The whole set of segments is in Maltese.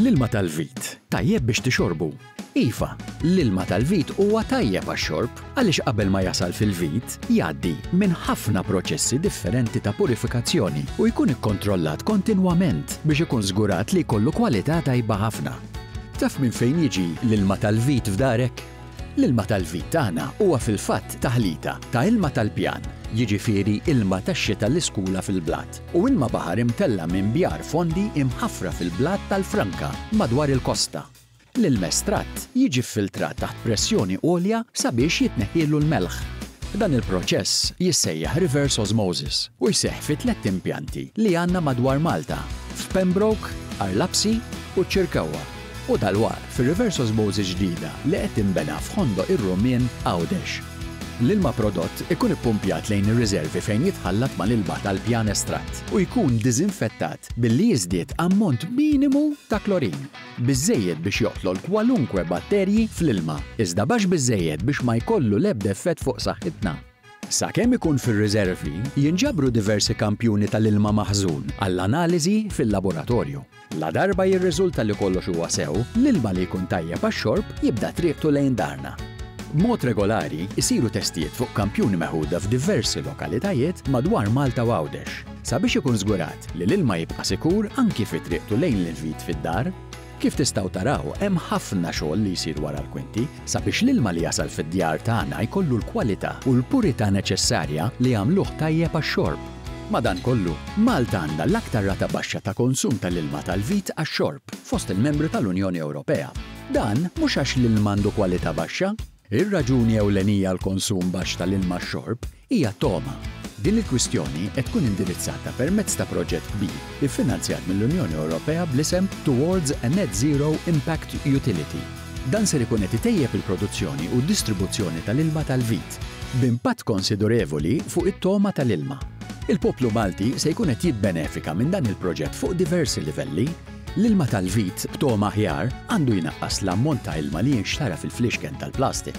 L-ilma tal-vit, tajjeb biex tixorbu? Iva, l-ilma tal-vit huwa tajjeb għax-xorb għaliex qabel ma jasal fil-vit, jgħaddi minn ħafna proċessi differenti ta' purifikazzjoni u jkun ikkontrollat kontinwament biex ikun żgurat li jkollu kwalità tajba ħafna. Taf minn fejn jiġi l-ilma tal-vit f'darek? L-ilma tal-vit tagħna huwa fil-fatt taħlita ta' ilma tal-pjan, jiġifieri ilma tax-xita l-iskula fil-blat, u ilma baħar imtella' minn bjar fondi imħaffra fil-blat tal-franka madwar il-kosta. L-ilma estratt jiġi ffiltrat taħt pressjoni għolja sabiex jitneħħielu l-melħ. Dan il-proċess jissejjaħ reverse osmosis u jseħħ fi tlett impjanti li għandna madwar Malta, f'Pembroke, Arlapsi u ċ-Ċirkewwa. U dalwaqt fir-reverse osmosis ġdida li qed tinbena f'Ħondo ir-Rumien, Għawdex. L-ilma prodott ikun ippumpjat lejn ir-riservi fejn jitħallat mal-ilma tal-pjan estratt u jkun diżinfettat billi jiżdied ammont minimu ta' klorin, biżżejjed biex joqtol kwalunkwe batterji fl-ilma, iżda baxx biżżejjed biex ma jkollu l-ebda effett fuq saħħitna. Sakemm ikun fir-riżervi, jinġabru diversi kampjuni tal-ilma maħżun għall-analiżi fil-laboratorju. Ladarba jirriżulta li kollox huwa sew, l-ilma li jkun tajjeb għax-xorb jibda triqtu lejn darna. B'mod regolari jsiru testijiet fuq kampjuni meħuda f'diversi lokalitajiet madwar Malta u Għawdex sabiex ikun żgurat li l-ilma jibqa' sikur anki fi triqtu lejn l-invit fid-dar. Kif tistgħu taraw, hemm ħafna xogħol li jsir wara l-kwinti sabiex l-ilma li jasal fid-djar tagħna jkollu l-kwalità u l-purità neċessarja li jagħmluh tajjeb għax-xorb. Madankollu, Malta għandha l-aktar rata baxxa ta' konsum tal-ilma tal-vit għax-xorb fost il-membri tal-Unjoni Ewropea. Dan mhux għax l-ilma għandu kwalità baxxa. Ir-raġuni ewlenija għall-konsum baxx tal-ilma għax-xorb Hija togħma. Din il-kwistjoni qed tkun indirizzata permezz ta' proġett kbir iffinanzjat mill-Unjoni Ewropea bl-isem Towards a Net Zero Impact Utility. Dan ser ikun qed itejjeb il-produzzjoni u d-distribuzzjoni tal-ilma tal-vit, b'impatt konsidurevoli fuq it-togħma tal-ilma. Il-poplu Malti se jkun qed jibbenefika minn dan il-proġett fuq diversi livelli. L-ilma tal-vit b'togħma aħjar għandu jnaqqas l-ammont ta' ilma li jinxtara fil-fliexken tal-plastik.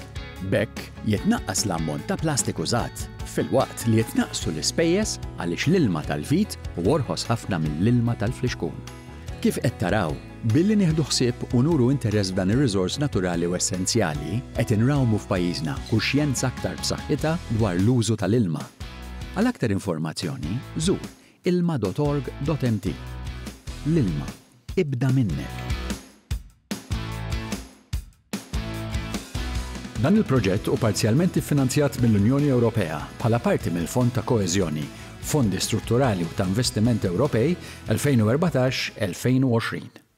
B'hekk, Jitnaqqas l-ammont ta' plastik użat, filwaqt li jitnaqqsu l-ispejjeż għaliex l-ilma tal-vit hu orħos ħafna mill-ilma tal-flixkun. Kif qed taraw, billi nieħdu ħsieb u nuru interess f'dan ir-riżors naturali u essenzjali, qed inrawmu f'pajjiżna kuxjenza aktar b'saħħitha dwar l-użu tal-ilma. Għal aktar informazzjoni, żur ilma.org.mt. L-ilma, ibda minnek! Dan il-proġett hu parzjalment iffinanzjat mill-Unjoni Ewropea bħala parti mill-Fond ta' Koeżjoni, Fondi Strutturali u ta' Investiment Ewropej 2014-2020.